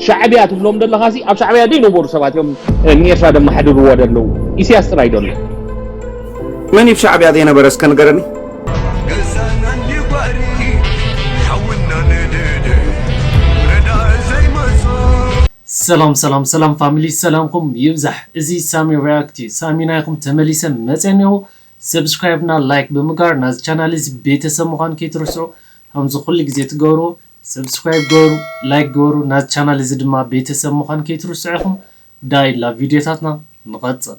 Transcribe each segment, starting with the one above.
ሻዕብያ ትብሎም ዘለኻሲ ኣብ ሻዕብያ ዘይነበሩ ሰባት እዮም ንኤርትራ ደመሓድርዎ ደለዉ ኢሳያስ ጥራይ ዶ ኣሎ መን እዩ ሻዕብያ ዘይነበረ እስከ ንገረኒ ሰላም ሰላም ሰላም ፋሚሊ ሰላምኩም ይብዛሕ እዚ ሳሚ ሪያክት እዩ ሳሚ ናይኹም ተመሊሰ መፀ እኒኦ ሰብስክራይብ እና ላይክ ብምጋር ናዚ ቻናል እዚ ቤተሰብ ምዃን ከይትርስዑ ከምዚ ኩሉ ግዜ ትገብርዎ ሰብስክራይብ ግበሩ ላይክ ግበሩ ናዝ ቻናል እዚ ድማ ቤተሰብ ምዃን ከይትርስዑ ኢኹም ዳይ ላቭ ቪድዮታትና ንቐጽል።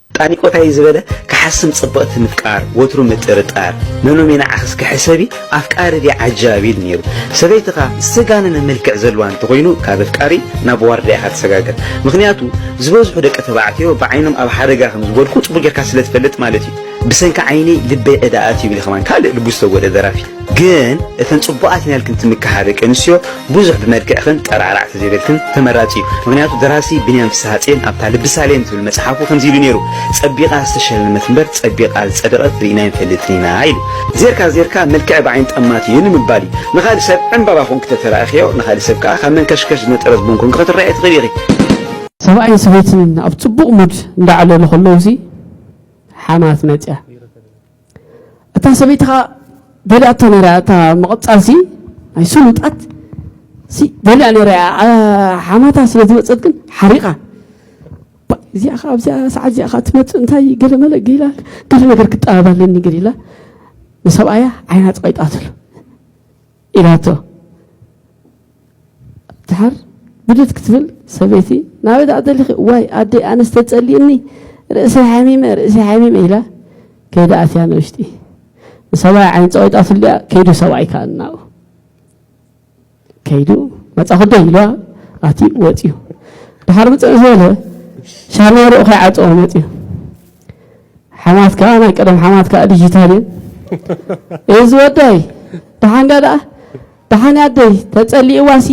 ጣኒቆታይ ዝበለ ክሓስም ጽብቕቲ ምፍቃር ወትሩ ምጥርጣር ነኖሜ ንዓኽስ ክሕሰቢ ኣፍቃሪ ድየ ዓጃቢ ኢሉ ነይሩ ሰበይትኻ ዝተጋነነ መልክዕ ዘለዋ እንተኾይኑ ካብ ኣፍቃሪ ናብ ዋርድያ ኢኻ ትሰጋገር ምኽንያቱ ዝበዝሑ ደቂ ተባዕትዮ ብዓይኖም ኣብ ሓደጋ ከም ዝወድቁ ጽቡቕ ጌርካ ስለ ትፈልጥ ማለት እዩ ብሰንኪ ዓይኒ ልበይ ዕዳ ኣትዩ ኢሉ ከማን ካልእ ልቡ ዝተጎድኣ ደራፊ ግን እተን ጽቡቃት ኢና ኢልክን ትምክሓ ደቂ ኣንስትዮ ብዙሕ ብመልክዕክን ጠራዕራዕ ተዘይበልክን ተመራጺ እዩ ምክንያቱ ደራሲ ብንያም ፍስሃጽየን ኣብታ ልቢ ሳሌም ትብል መጽሓፉ ከምዚ ኢሉ ኔሩ ጸቢቃ ዝተሸለመት እምበር ጸቢቃ ዝጸደቀት ሪኢና ኣይንፈልጥን ኢና ኢሉ ዜርካ ዜርካ መልክዕ ብዓይኒ ጠማት እዩ ንምባል እዩ ንካልእ ሰብ ዕንባባ ኮንኪ ተተራእክዮ ንካልእ ሰብ ከኣ ካብ መንከሽከሽ ዝነጠረ ዝቡን ኮንኪ ክትረኣዮ ትክእሊ ኢኪ። ሰብኣይን ሰበይትን ኣብ ጽቡቕ ሙድ እንዳዕለሉ ከለዉ ሲ ሓማት መጽያ። እታ ሰበይቲ ከዓ ደልያቶ ነይራ እታ ምቕፃል ሲ ናይ ስሉጣት ሲ ደልያ ነይራ ሓማታ ስለ ዝመፀት ግን ሓሪቓ እዚኣ ከዓ ኣብዚኣ ሰዓት እዚኣ ከዓ ትመፅእ እንታይ ገለመለ ገላ ገለ ነገር ክጠባብ ኣለኒ ገሊላ ንሰብኣያ ዓይና ፀቂጣትሉ ኢላቶ ድሓር ብድድ ክትብል ሰበይቲ ናበይ ደኣ ደሊኺ ዋይ ኣደይ ኣነስ ተጸሊእኒ ርእሰይ ሓሚመ ርእሰይ ሓሚመ ኢላ ከይዳ ኣትያ ንውሽጢ ንሰብኣይ ዓይን ፀቂጣትሉ ድኣ ከይዱ ሰብኣይ ከዓ እናኡ ከይዱ መፃኹዶ ኢልዋ ኣትዩ ወፅዩ ድሓር ምፅዕ ዝበለ ሻርማሩኡ ከይዓፀዎ መፅዩ ሓማት ከኣ ናይ ቀደም ሓማት ከኣ ዲጂታል እየን እዚ ወደይ ደሓን ዲያ ደኣ ደሓን ኣደይ ተጸሊእዋሲ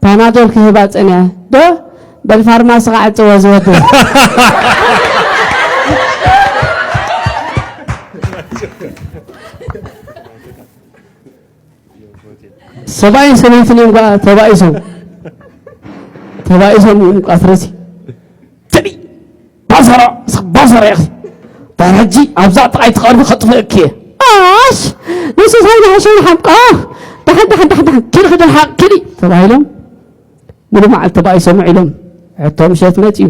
ፓናዶል ክህባ ጸኒዐ ዶ በል ፋርማሲ ከዓጽዎ ዝወደ ሰብኣይን ሰበይትን እዮም ጓ ተባኢሶም ተባኢሶም እዮም ቃትረሲ ባዘራ እስኪ ባዘራ ኢኺ ዳር ሕጂ ኣብዛ ጥቓይ ትቐርቢ ከጥፍእኪ እየ ኣሽ ንሱ ሳይ ዝሓሸ ይሓምቆ ዳሓን ዳሓን ዳሓን ዳሓን ኪዲ ክዲ ልሓቕ ኪዲ ተባሂሎም ሙሉ መዓልቲ ተባኢሶም ውዒሎም ሕቶ ምሸት መፅዩ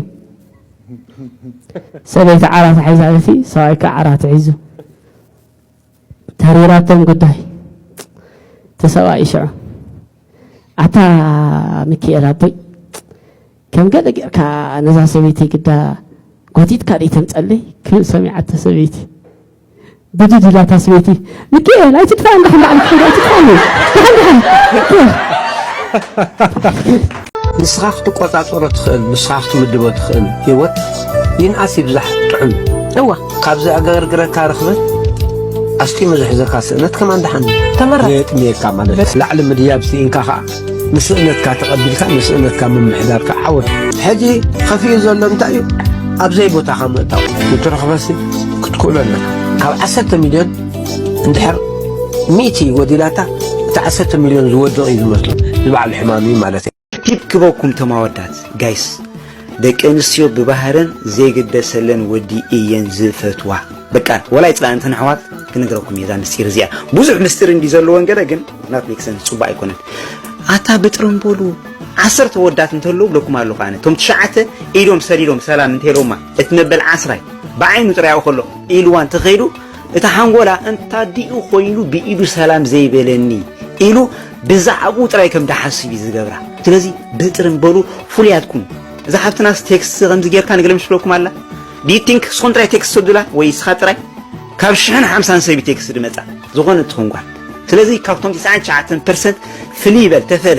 ሰበይቲ ዓራት ሓይዛ እቲ ሰብኣይ ከዓ ዓራት ሒዙ ተሪራቶም ጉዳይ እቲ ሰብኣይ ሽዑ ኣታ ሚኪኤል ኣቦይ ከም ገለ ጌርካ ነዛ ሰበይቲ ግዳ ጎቲትካ ደይ ተምፀለይ ክብል ሰሚዓቶ ሰበይቲ ብድድ ኢላታ ሰበይቲ ሚኪኤል ኣይትድፋእ እንዳ ሕንዳዕሊ ትኸይድ ኣይትድፋእኒ ንስኻ ክትቆፃፀሮ ትኽእል ንስኻ ክትምድቦ ትኽእል ህይወት ይንኣስ ይብዛሕ ጥዑም እዋ ካብ ዘዕገርግረካ ርኽበት ኣስጢሙ ዝሕዘካ ስእነት ከማን ደሓን ተመረጽ። ዘየጥምየካ ማለት እዩ። ላዕሊ ምድያብ ስኢንካ ኸዓ ንስእነትካ ተቐቢልካ ንስእነትካ ምምሕዳር ከዓ ዓወት እዩ። ሕጂ ኸፊኡ ዘሎ እንታይ እዩ ኣብ ዘይቦታኻ ምእታው ነቲ ርኽበሲ ክትክእሎ ኣለካ ካብ ዓሰርተ ሚልዮን እንድሕር ሚእቲ ጎዲላታ እቲ ዓሰርተ ሚልዮን ዝወድቕ እዩ ዝመስሎ ንባዕሉ ሕማም እዩ ማለት እዩ ቲፕ ክበኩም ተማወዳት ጋይስ ደቂ ኣንስትዮ ብባህረን ዘይግደሰለን ወዲ እየን ዝፈትዋ በቃ ወላ ይፅላእ እንተን ኣሕዋት ክነግረኩም እየ እዛ ምስጢር እዚኣ ብዙሕ ምስጢር እንዲ ዘለዎን ገለ ግን ናት ሜክሰን ፅቡቅ ኣይኮነን ኣታ ብጥረምቦሉ ዓሰርተ ወዳት እንተለዉ ብለኩም ኣለኹ ኣነ እቶም ትሽዓተ ኢዶም ሰዲዶም ሰላም እንተኢሎማ እቲ መበል ዓስራይ ብዓይኑ ጥራይ ኣብኡ ከሎ ኢልዋ እንተኸይዱ እቲ ሓንጎላ እንታዲኡ ኮይኑ ብኢዱ ሰላም ዘይበለኒ ኢሉ ብዛዕብኡ ጥራይ ከም ድሓስብ እዩ ዝገብራ ስለዚ ብጥርን በሉ ፍሉያት ኩኑ እዛ ሓፍትናስ ቴክስት ከምዚ ጌርካ ንግለም ሽብለኩም ኣላ ዲዩ ቲንክ ስኹም ጥራይ ቴክስት ሰዱላ ወይ ስኻ ጥራይ ካብ ሽሕን ሓምሳን ሰቢ ቴክስት ድመጻ ዝኾነ ትኹን ጓል ስለዚ ካብቶም 99 ፐርሰንት ፍልይ በል ተፈለ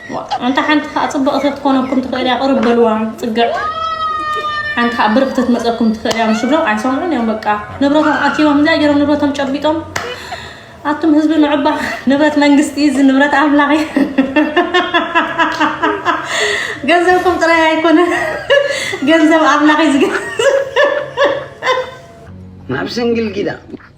ኣንታ ሓንቲ ከኣ ጽብቕቲ ክትኮነኩም ትኽእል እያ ቅርብ በልዋ ጽግዕ ሓንቲ ከኣ ብርኽቲ ክትመጸኩም ትኽእል እያ ምስ ብሎ ኣይሰምዑን እዮም በቃ ንብረቶም ኣኪቦም እንታይ ገይሮም ንብረቶም ጨቢጦም ኣቱም ህዝቢ ንዕባ ንብረት መንግስቲ እዚ ንብረት ኣምላኽ እዩ ገንዘብኩም ጥራይ ኣይኮነ ገንዘብ ኣምላኽ እዩ ዝገንዘብ ናብ ስንግል ጊዳ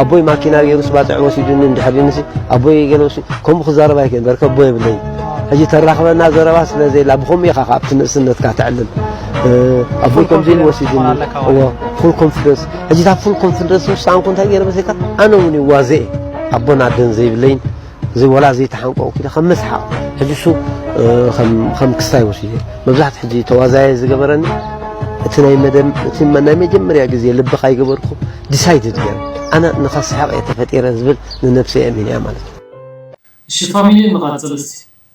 ኣቦይ ማኪና ገይሩስ ባጽዕ ወሲዱኒ እንድሕር ድንሲ ኣቦይ ገለ ወሲ ከምኡ ክዛረብ ኣይክእል በርከ ኣቦ የብለይ ሕጂ ተራኽበና ዘረባ ስለ ዘይላ ብኸምኡ ኢኻ ካብቲ ንእስነትካ ተዕልም ኣቦይ ከምዚ ኢሉ ወሲዱኒ እዎ ፉል ኮንፊደንስ ሕጂ እታ ፉል ኮንፊደንስ ውሳንኩ እንታይ ገይረ መሰልካ ኣነ እውን ይዋዘ ኣቦን ኣደን ዘይብለይን እዚ ወላ ዘይተሓንቆ ኪደ ከም መስሓቕ ሕጂ እሱ ከም ክስታይ ወሲደ መብዛሕት ሕጂ ተዋዛየ ዝገበረኒ እቲ ናይ መደም እቲ ናይ መጀመርያ ግዜ ልቢ ካይገበርኩ ዲሳይድድ ገይረ ኣነ ንኸስሕቕ እየ ተፈጢረ ዝብል ንነብሰይ ኣሚነያ ማለት እዩ። እሺ ፋሚሊ ንቀጽል እስቲ።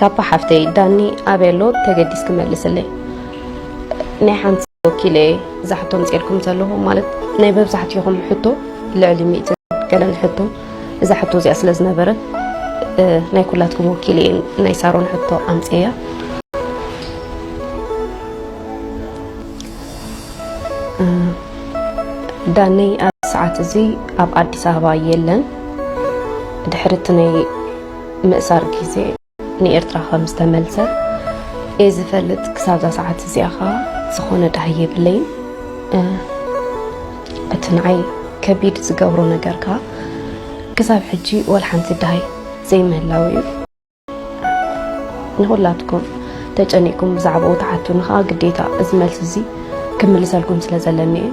ካፓ ሓፍተይ ዳኒ ኣበይ ኣሎ ተገዲስ ክመልስለይ ናይ ሓንቲ ወኪለ ዛሕቶም ፅርኩም ዘለኹም ማለት ናይ መብዛሕትኹም ሕቶ ልዕሊ ሚእቲ ገለን ሕቶ እዛ ሕቶ እዚኣ ስለ ዝነበረት ናይ ኩላትኩም ወኪል እየ ናይ ሳሮን ሕቶ ኣምፅያ ዳነይ ኣብ ሰዓት እዚ ኣብ ኣዲስ ኣበባ የለን ድሕርቲ ናይ ምእሳር ግዜ ንኤርትራ ከም ዝተመልሰ እየ ዝፈልጥ ክሳብዛ ሰዓት እዚኣ ከዓ ዝኾነ ዳሃይ የብለይን እቲ ንዓይ ከቢድ ዝገብሮ ነገር ከዓ ክሳብ ሕጂ ወላ ሓንቲ ዳሃይ ዘይምህላው እዩ ንኹላትኩም ተጨኒቅኩም ብዛዕባኡ ትሓቱኒ ከዓ ግዴታ እዚ መልሲ እዚ ክምልሰልኩም ስለ ዘለኒ እዩ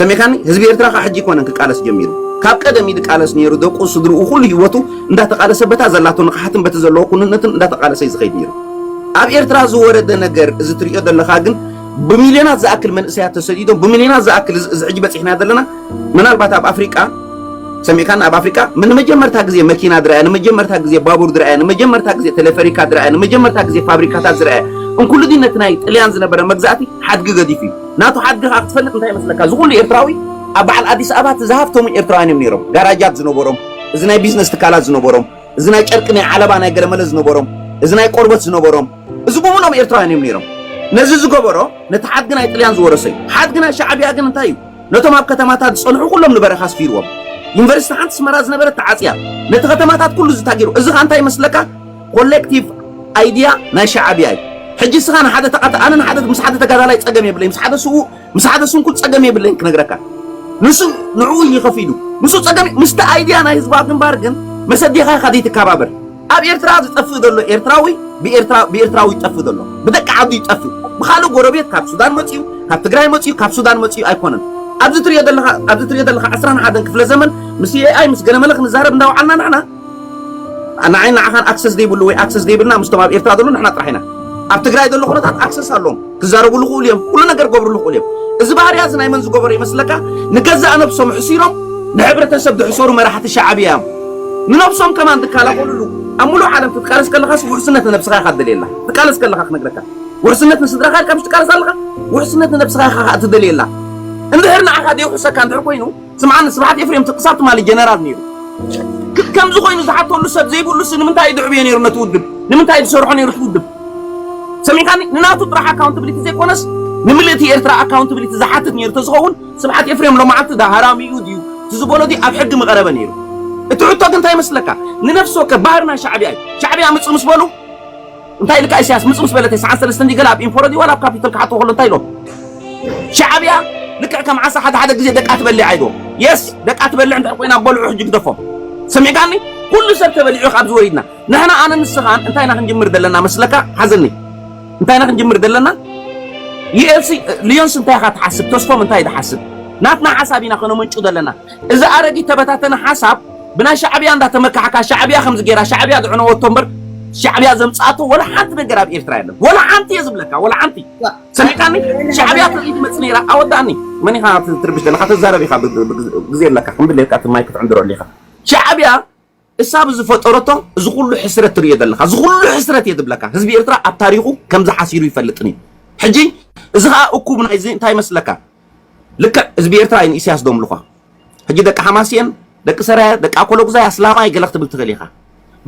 ሰሚዕካኒ ህዝቢ ኤርትራ ካብ ሕጂ ኣይኮነን ክቃለስ ጀሚሩ ካብ ቀደም እዩ ዝቃለስ ነይሩ ደቁ ስድርኡ ኩሉ ሂወቱ እንዳተቃለሰ በታ ዘላቶ ንቕሓትን በቲ ዘለዎ ኩንነትን እንዳተቃለሰ እዩ ዝኸይድ ነይሩ ኣብ ኤርትራ ዝወረደ ነገር እዚ ትሪኦ ዘለኻ ግን ብሚልዮናት ዝኣክል መንእሰያት ተሰዲዶም ብሚልዮናት ዝኣክል እዚ ሕጂ በፂሕና ዘለና ምናልባት ኣብ ኣፍሪቃ ሰሚዕካን ኣብ ኣፍሪቃ ንመጀመርታ ግዜ መኪና ዝረኣየ ንመጀመርታ ግዜ ባቡር ዝረኣየ ንመጀመርታ ግዜ ቴሌፈሪካ ዝረኣየ ንመጀመርታ ግዜ ፋብሪካታት ዝረኣየ እንኩሉ ነቲ ናይ ጥልያን ዝነበረ መግዛእቲ ሓድጊ ገዲፉ እዩ ናቱ ሓድግኻ ክትፈልጥ እንታይ ይመስለካ እዚ ኩሉ ኤርትራዊ ኣብ በዓል ኣዲስ ኣበባ እቲ ዝሃፍተሙ ኤርትራውያን እዮም ነይሮም ጋራጃት ዝነበሮም እዚ ናይ ቢዝነስ ትካላት ዝነበሮም እዚ ናይ ጨርቂ ናይ ዓለባ ናይ ገለመለ ዝነበሮም እዚ ናይ ቆርበት ዝነበሮም እዚ ብምሎም ኤርትራውያን እዮም ነይሮም ነዚ ዝገበሮ ነቲ ሓድጊ ናይ ጥልያን ዝወረሰ እዩ ሓድጊ ናይ ሻዕብያ ግን እንታይ እዩ ነቶም ኣብ ከተማታት ዝጸንሑ ኩሎም ንበረኻ ኣስፊርዎም ዩኒቨርሲቲ ሓንቲ ስመራ ዝነበረት ተዓጽያ ነቲ ከተማታት ኩሉ ዝታጊሩ እዚ ከ እንታይ ይመስለካ ኮሌክቲቭ ኣይድያ ናይ ሻዓብያ እዩ ሕጂ እስኻ ንሓደ ተቃተ ኣነ ንሓደ ምስ ሓደ ተጋዳላይ ጸገም የብለይ ምስ ሓደ ስዉእ ምስ ሓደ ስንኩል ጸገም የብለይን ክነግረካ ንሱ ንዕኡ እዩ ከፊሉ ንሱ ጸገም ምስቲ ኣይድያ ናይ ህዝባዊ ግንባር ግን መሰዲኻ ኢኻ ዘይትከባበር ኣብ ኤርትራ ዝጠፍእ ዘሎ ኤርትራዊ ብኤርትራ ብኤርትራዊ ይጠፍእ ዘሎ ብደቂ ዓዱ ይጠፍእ ብኻልእ ጎረቤት ካብ ሱዳን መጽዩ ካብ ትግራይ መጽዩ ካብ ሱዳን መጽዩ ኣይኮነን ኣብዚ ትሪኦ ዘለኻ ኣብዚ ትሪኦ ዘለኻ 21 ክፍለ ዘመን ምስ ኤኣይ ምስ ገለመለ ክንዛረብ እንዳውዓልና ንሕና ንዓይን ንዓኻን ኣክሰስ ዘይብሉ ወይ ኣክሰስ ዘይብልና ምስቶም ኣብ ኤርትራ ዘሎ ንሕና ጥራሕ ኢና ኣብ ትግራይ ዘሎ ኩነታት ኣክሰስ ኣለዎም ክዛረብሉ ክእሉ እዮም ኩሉ ነገር ክገብርሉ ክእሉ እዮም እዚ ባህርያ እዚ ናይ መን ዝገበሮ ይመስለካ ንገዛእ ነብሶም ሕሲሮም ንሕብረተሰብ ዝሕሰሩ መራሕቲ ሻዕብያ እዮም ንነብሶም ከማን ዝከላኸልሉ ኣብ ሙሉእ ዓለም ክትቃለስ ከለኻስ ውሕስነት ንነብስኻ ኢኻ ትደልየላ ትቃለስ ከለኻ ክነግረካ ውሕስነት ንስድራኻ ኢልካ ምስ ትቃለስ ኣለኻ ውሕስነት ንነብስኻ ኢኻ እትደልየላ እንድሕር ንዓኻ ደይውሕሰካ እንድሕር ኮይኑ ስምዓኒ ስብሓት ኤፍሬም እቲ ክሳብ ትማሊ ጀነራል ነይሩ ከምዚ ኮይኑ ዝሓተሉ ሰብ ዘይብሉስ ንምንታይ ድዕብዮ ነይሩ ነቲ ውድብ ንምንታይ ዝሰርሖ ነይሩ እቲ ውድብ ሰሚዕካኒ ንናቱ ጥራሕ ኣካውንታብሊቲ ዘይኮነስ ንምልእቲ ኤርትራ ኣካውንታብሊቲ ዝሓትት ነይሩ ተዝኸውን ስብሓት ኤፍሬም ሎማዓልቲ ዳ ሃራሚኡ ድዩ እቲ ዝበሎ ድዩ ኣብ ሕጊ ምቐረበ ነይሩ እቲ ሕቶ ግን እንታይ ይመስለካ ንነፍሲ ወከፍ ባህርና ሻዕቢያ እዩ ሻዕቢያ ምፅ ምስ በሉ እንታይ ኢልካ ኢሳያስ ምጽ ምስ በለተይ ሰዓት ሰለስተ እንዲ ገለ ኣብ ኢንፎረ ድዩ ዋላ ኣብ ካፒታል ክሓቶ ከሎ እንታይ ኢሎም ሻዕብያ ልክዕ ከም ዓሳ ሓደ ሓደ ግዜ ደቃ ትበልዕ ኣይዶ የስ ደቃ ትበልዕ እንታይ ኮይና በልዑ ሕጂ ግደፎም ሰሚዕካኒ ኩሉ ሰብ ተበሊዑ ካብ ዝወሪድና ንሕና ኣነ ንስኻን እንታይ ኢና ክንጅምር ዘለና መስለካ ሓዘኒ እንታይ ኢና ክንጅምር ዘለና ሊዮንስ እንታይ ኢኻ ትሓስብ ተስፎም እንታይ ድሓስብ ናትና ሓሳብ ኢና ከነመንጩ ዘለና እዚ ኣረጊት ተበታተነ ሓሳብ ብናይ ሻዕብያ እንዳተመካሕካ ሻዕብያ ከምዚ ጌራ ሻዕብያ ዘዕነወቶ እምበር ሻዕብያ ዘምጻኣቶ ወላ ሓንቲ ነገር ኣብ ኤርትራ የለን ወላ ሓንቲ እየ ዝብለካ ወላ ሓንቲ ሰሚዕካኒ ሻዕብያ ተርኢ ትመጽእ ነይራ ኣወዳእኒ መን ኢኻ ትርብሽ ዘለካ ተዛረብ ኢኻ ግዜ ኣለካ ክንብለካ እቲ ማይ ክትዕንድረሉ ኢኻ ሻዕብያ እሳ ብዝፈጠረቶ እዚ ኩሉ ሕስረት ትርእዮ ዘለኻ እዚ ኩሉ ሕስረት እየ ዝብለካ ህዝቢ ኤርትራ ኣብ ታሪኹ ከምዚ ሓሲሩ ይፈልጥን እዩ ሕጂ እዚ ከኣ እኩብ ናይዚ እንታይ መስለካ ልክዕ ህዝቢ ኤርትራ እዩ ንኢሳያስ ዶምልኳ ሕጂ ደቂ ሓማስየን ደቂ ሰራየ ደቂ ኣኮሎጉዛይ ኣስላማይ ገለ ክትብል ትኽእል ኢኻ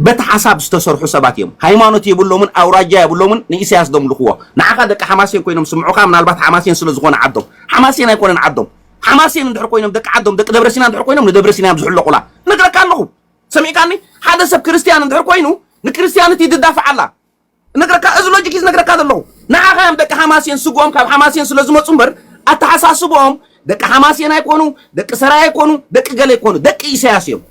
በቲ ሓሳብ ዝተሰርሑ ሰባት እዮም ሃይማኖት የብሎምን ኣውራጃ የብሎምን ንኢሳያስ ዶምልኽዎ ንዓኻ ደቂ ሓማስየን ኮይኖም ስምዑኻ ምናልባት ሓማስየን ስለ ዝኾነ ዓዶም ሓማስየን ኣይኮነን ዓዶም ሓማሴን እንድሕር ኮይኖም ደቂ ዓዶም ደቂ ደብረሲና እንድሕር ኮይኖም ንደብረሲናዮም ዝሕለቑላ እነግረካ ኣለኹ ሰሚዕካኒ ሓደ ሰብ ክርስትያን እንድሕር ኮይኑ ንክርስትያንት ይድዳፍዓ ኣላ እነግረካ እዚ ሎጂክ እዩ ዝነግረካ ዘለኹ ንዓኻ እዮም ደቂ ሓማሴን ስግኦም ካብ ሓማሴን ስለ ዝመፁ እምበር ኣተሓሳስብኦም ደቂ ሓማሴን ኣይኮኑ ደቂ ሰራይ ኣይኮኑ ደቂ ገለ ኣይኮኑ ደቂ ኢሳያስ እዮም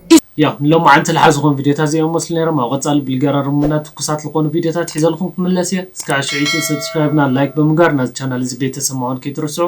ያው ንሎማዓንቲ ልሓ ዝኾኑ ቪድዮታት እዚኦም መስሉ ነይሮም ኣብ ቐፃሊ ብልገራርሙና ትኩሳት ልኾኑ ቪድዮታት ሒዘልኹም ክምለስ እየ እስካዕ ሽዕይቱ ሰብስክራይብና ላይክ ብምግባር ናዚ ቻናል እዚ ቤተሰብ ምዃን ከይትርስዑ